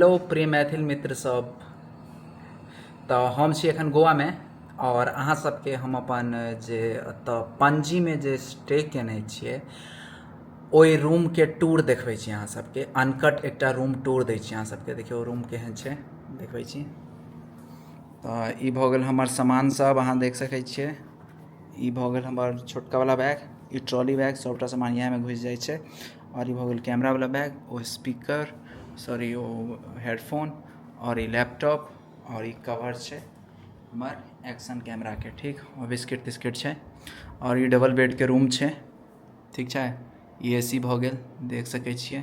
hello प्रिय मैथिल मित्र सब तऽ हम छी एखन गोवामे आओर अहाँ सबके हम अपन जे एतऽ पणजीमे जे स्टे केने छिए ओहि रूमके टूर देखबै छी अहाँ सबके अनकट एकटा रूम टूर दै छी अहाँ सबके देखियौ रूम केहन छै देखबै छी तऽ ई भऽ गेल हमर सामान सब अहाँ देख सकै छिए ई भऽ गेल हमर छोटकावला बैग ई ट्रॉली बैग सबटा सामान इएहमे घुसि जाइ छै आओर ई भऽ गेल कैमरावला बैग ओ स्पीकर सॉरी ओ हेडफोन आओर ई लैपटॉप आओर ई कवर छै हमर एक्शन कैमराके ठीक आओर बिस्किट तिस्किट छै आओर ई डबल बेडके रूम छै ठीक छै ई ए सी भऽ गेल देख सकै छियै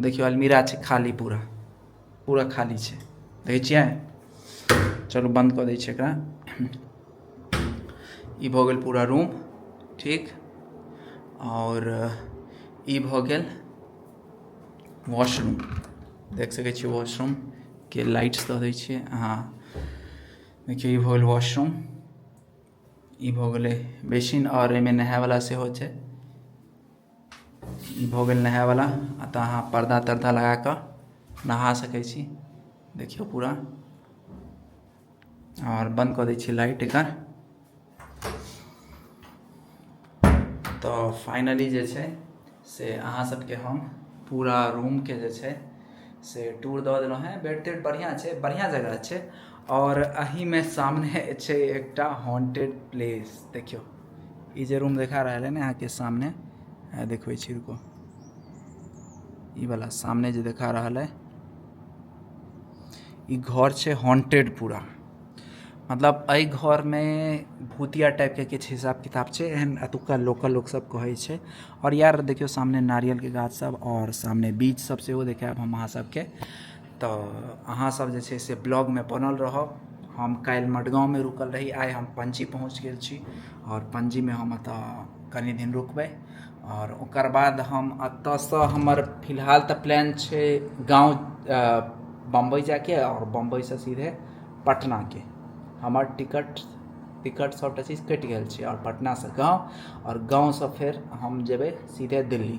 देखियौ अलमीरा छै खाली पूरा पूरा खाली छै देखै छियै चलू बन्द कऽ दै छियै एकरा ई भऽ गेल पूरा रूम ठीक आओर ई भऽ गेल वॉशरूम देख सकै छियै वॉशरूमके लाइट्स दऽ दै छियै अहाँ देखियौ ई भऽ गेल वॉशरूम ई भऽ गेलै बेसिन आओर एहिमे नहायवला सेहो छै ई भऽ गेल नहायवला एतय अहाँ पर्दा तर्दा लगा कऽ नहा सकैत छी देखियौ पूरा आओर बन्द कऽ दैत छी लाइट एकर तऽ फाइनली जे छै से अहाँ सभके हम पूरा रूमके जे छै से टूर दऽ देलहुँ हेँ बेड तेड बढ़िआँ छै बढ़िआँ जगह छै आओर एहीमे सामने छै एकटा हॉन्टेड प्लेस देखियौ ई जे रूम देखा रहल है ने अहाँके सामने देखबै छी रुको ई वाला सामने जे देखा रहल है ई घर छै हॉन्टेड पूरा मतलब एहि घरमे भूतिया टाइपके किछु हिसाब किताब छै एहन एतुका लोकल लोकसभ कहै छै आओर यार देखियौ सामने नारियलके गाछसभ आओर सामने बीचसभ सेहो देखायब हम अहाँ सभके तऽ अहाँ सब जे छै से ब्लॉग मे बनल रहब हम काल्हि मडगाँव मे रुकल रही आइ हम पणजी पहुँच गेल छी आओर पणजी मे हम एतऽ कनी दिन रुकबै आओर ओकर बाद हम एतऽ सँ हमर फिलहाल तऽ प्लान छै गाँव बम्बइ जायके आओर बम्बइ सँ सीधे पटना के हमर टिकट टिकट सबटा चीज कटि गेल छै आओर पटना सँ गाँव आओर गाँव सँ फेर हम जेबै सीधे दिल्ली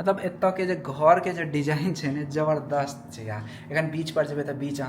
मतलब एतऽके जे घरके जे डिजाइन छै ने जबरदस्त छै यार एखन बीचपर जेबै तऽ बीच अहाँ